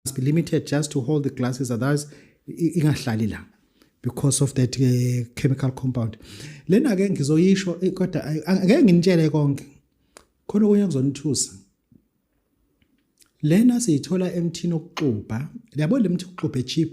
must be limited just to hold the glasses otherwise ingahlali la because of that uh, chemical compound lena ke ngizoyisho eh, kodwa ngeke nginitshele konke khona okunye kuzonithusa lena siyithola emthini okuxubha yabo lemthi okuxubha echeap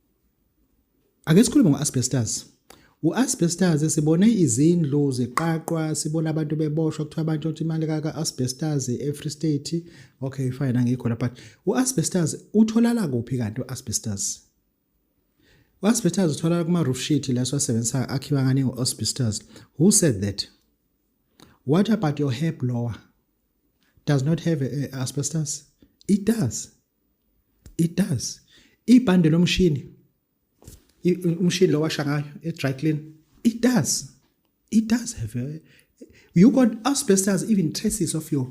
Ake sikhulume ngo-asbestos. U-asbestos sibone izindlu ziqaqwa, sibona abantu beboshwa kuthiwa abantu othi imali kaka-asbestos e-Free State. Okay fine angikho la but u-asbestos utholala kuphi kanti u-asbestos? U-asbestos utholala kuma-roof sheet la siwasebenzisa akhiwa ngani ngo-asbestos. Who said that? What about your hair blower? Does not have a, a asbestos? It does. it does ibhande lomshini umshini lo washa ngayo e-dry clean it does it does have a, you got asbestos even traces of your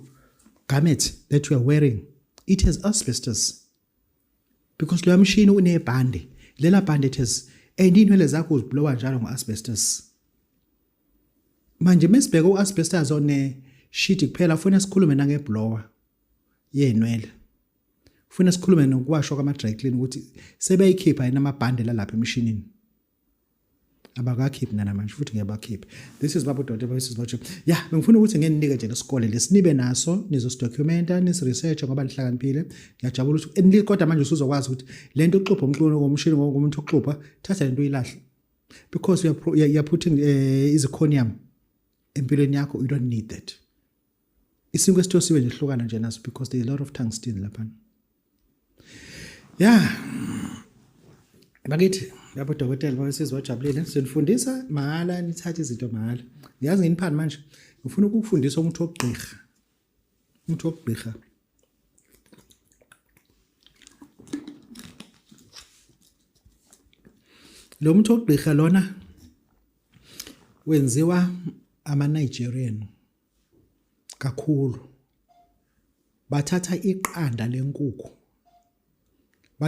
garment that you are wearing it has asbestos because loya mshini unebhande lela bhande it has and inwele zakho uziblowa njalo ngo-asbestos manje mesibheke u-asbestos one shit kuphela funa sikhulume nangeblower yenwele ufuna sikhulume nokuwashwa kwama-dry clean ukuthi sebeyikhipha yini amabhande lalapha emishinini abakakhiphi nanamanje futhi ngiyabakhipha this is baba udokotela this is baba ya bengifuna ukuthi ngeninike nje lesikole lesinibe naso nizosidokumenta nisiresearch ngoba nihlakaniphile ngiyajabula ukuthi kodwa manje usuzokwazi ukuthi le nto uxubha umculo ngomshini ngomuntu uxubha thatha le nto uyilahle because you're, you're putting uh, eh, izikhonium empilweni yakho you don't need that isinkwa esithosiwe nje hlukana nje naso because there is a lot of tungsten lapha ya bakithi lapho dokotela babesizwa wajabulile senifundisa mahhala nithathe izinto mahhala ngiyazi nginiphani manje ngifuna ukukufundisa umuthi wokugqirha umuthi wokugqirha lo muthi wokugqirha lona wenziwa ama-nigerian kakhulu bathatha iqanda lenkukhu